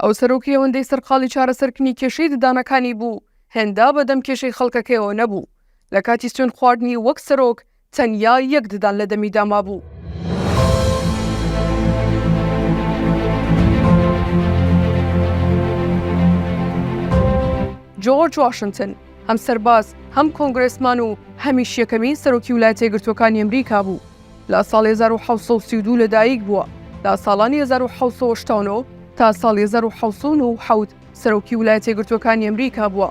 ئەو سەرۆکی ئەوەندەی سەرقاڵی چارەسەرکردنی کێشەی ددانەکانی بوو، هێندە بەدەم کێشەی خەڵکەکەیەوە نەبوو. لە کاتی سوێن خواردنی وەک سەرۆک، تەنیا یەک ددان لە دەمیدا مابوو. جۆرج واشنتن هەم سەرباز، هەم کۆنگرێسمان و هەمیش یەکەمین سەرۆکی ولایەتە یەکگرتووەکانی ئەمریکا بوو. لە ساڵی هەزار و حەوت سەد و سی و دوو لەدایک بووە، لە ساڵانی هەزار و حەوت سەد و هەشتا و نۆ تا ساڵی هەزار و حەوت سەد و نۆ و حەوت سەرۆکی ولایەتە یەکگرتووەکانی ئەمریکا بووە.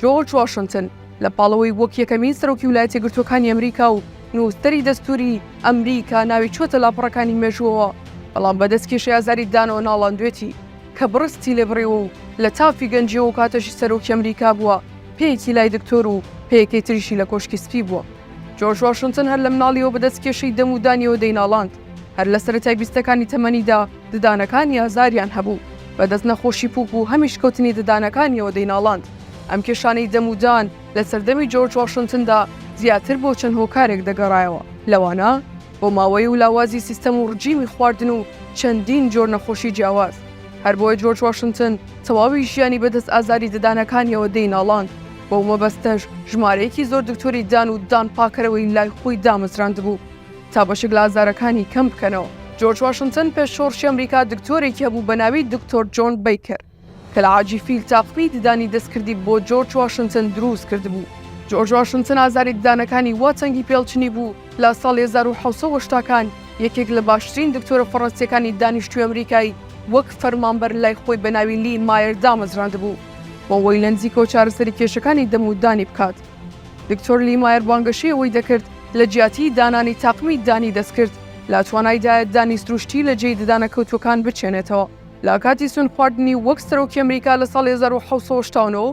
جۆرج واشنتن لە پاڵەوەی وەک یەکەمین سەرۆکی ولایەتە یەکگرتووەکانی ئەمریکا و نووسەری دەستووری ئەمریکا ناوی چووەتە لاپەڕەکانی مێژووەوە، بەڵام بە دەستکێشی ئازاری دانەوە ناڵاندوێتی، کە بڕستی لێ بڕیوە و لە تافی گەنجییەوە و کاتەشی سەرۆکی ئەمریکا بووە، پێیەکی لای دکتۆر و پێیەکەی تریشی لە کۆشکی سپی بووە. جۆرج واشنتن هەر لە مناڵیەوە بەدەست کێشەی دەم و دانیەوە دەیناڵاند، هەر لە سەرەتای بیستەکانی تەمەنیدا ددانەکانی ئازاریان هەبوو، بەدەست نەخۆشی پووک و هەمیشکەوتنی ددانەکانیەوە دەیناڵاند، ئەم کێشانەی دەم و دان لە سەردەمی جۆرج واشنتندا زیاتر بۆ چەند هۆکارێک دەگەڕایەوە، لەوانە. بۆماوەیی و لاوازی سیستەم و ڕجیمی خواردن و چەندین جۆر نەخۆشی جیاواز. هەر بۆیە جۆرج واشنتن تەواوی ژیانی بە دەست ئازاری ددانەکانیەوە دەی ناڵاند، بەو مەبەستەش ژمارەیەکی زۆر دکتۆری ددان و ددان پاکەرەوەی لای خۆی دامەزراندبوو تا بەشێک لە ئازارەکانی کەم بکەنەوە. جۆرج واشنتن پێش شۆڕشی ئەمریکا دکتۆرێکی هەبوو بە ناوی دکتۆر جۆن بەیکەر، کەلەعاجی فیل تاقمی ددانی دەستکردی بۆ جۆرج واشنتن دروست کردبوو. جۆرج واشنتن ئازاری ددانەکانی وا تەنگی پێڵچنی بوو لە ساڵی هەزار و حەوت سەد و هەشتا کان یەکێک لە باشترین دکتۆرە فەڕەنسیەکانی دانیشتوی ئەمریکای وەک فەرمانبەر لای خۆی بە ناوی لی مایەر دامەزراندبوو بۆ وەی لە نزیکەوە چارەسەری کێشەکانی دەم و دانی بکات. دکتۆر لی مایەر بانگەشەی ئەوەی دەکرد لە جیاتی دانانی تاقمی ددانی دەستکرد لە توانایدایە ددانی سروشتی لە جێی ددانە کەوتوەکان بچێنێتەوە. لە کاتی سوون خواردنی وەک سەرۆکی ئەمریکا لە ساڵی هەزار و حەوت سەد و هەشتا و نۆ،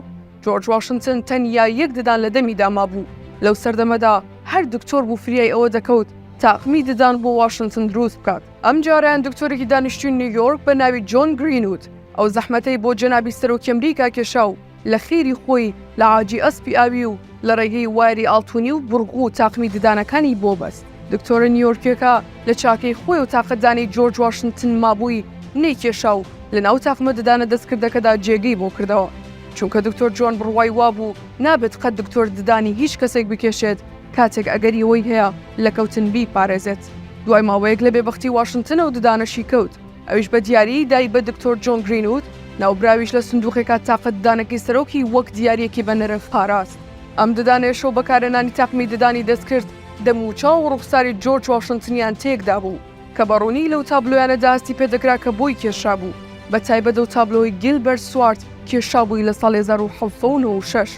جۆرج واشنتن تەنیا یەک ددان لە دەمیدا مابوو، لەو سەردەمەدا هەر دکتۆر بوو فریای ئەوە دەکەوت تاقمی ددان بۆ واشنتن دروست بکات. ئەم جارەیان دکتۆرێکی دانیشتووی نیویۆرک بە ناوی جۆن گرینوود ئەو زەحمەتەی بۆ جەنابی سەرۆکی ئەمریکا کێشا و، لە خێری خۆی لە عاجی ئەسپی ئاوی و لە ڕێگەی وایەری ئاڵتونی و بڕگو و تاقمی ددانەکانی بۆ بەست. دکتۆرە نیۆرکیەکە لە چاکەی خۆی و تاقەتدانەی جۆرج واشنتن مابووی نەیکێشا و لە ناو تاقمە ددانە دەستکردەکەدا جێگەی بۆ کردەوە. چونکە دکتۆر جۆن بڕوای وابوو نابێت قەت دکتۆر ددانی هیچ کەسێک بکێشێت کاتێک ئەگەری ئەوەی هەیە لە کەوتن بیپارێزێت. دوای ماوەیەک لە بێبەختی واشنتنەوە ددانەشی کەوت. ئەویش بە دیاریی دای بە دکتۆر جۆن گرینوود، ناوبراویش لە سندووقێکا تاقە ددانەکەی سەرۆکی وەک دیارییەکی بە نرخ پاراست. ئەم ددانەیش و بەکارهێنانی تاقمی ددانی دەستکرد، دەموچاو و ڕووخساری جۆرج واشنتنیان تێک دابوو، کە بە ڕوونی لەو تابلۆیانەدا هەستی پێ دەکرا کە بۆی کێشرابوو، بە تایبەت ئەو تابلۆی گیلبەرت سوارت کێشابووی لە ساڵی هەزار و حەوت سەد و نەوە و شەش.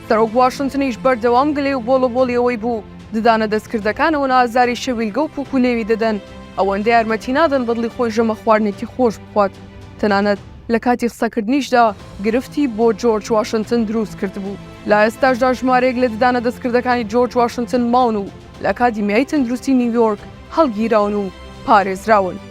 سەرۆک واشنتنیش بەردەوام گلەی و بۆڵەبۆڵی ئەوەی بوو، ددانە دەستکردەکان ئەوەنە ئازاری شەویلگە و پوک و لێوی دەدەن، ئەوەندە یارمەتی نادەن بەدڵی خۆی ژەمە خواردنێکی خۆش بخوات. تەنانەت لە کاتی قسەکردنیشدا گرفتی بۆ جۆرج واشنتن دروست کردبوو. لە ئێستاشدا ژمارەیەک لە ددانە دەستکردەکانی جۆرج واشنتن ماون و لە ئەکادیمیای تەندروستی نیویۆرک هەڵگیراون و پارێزراون.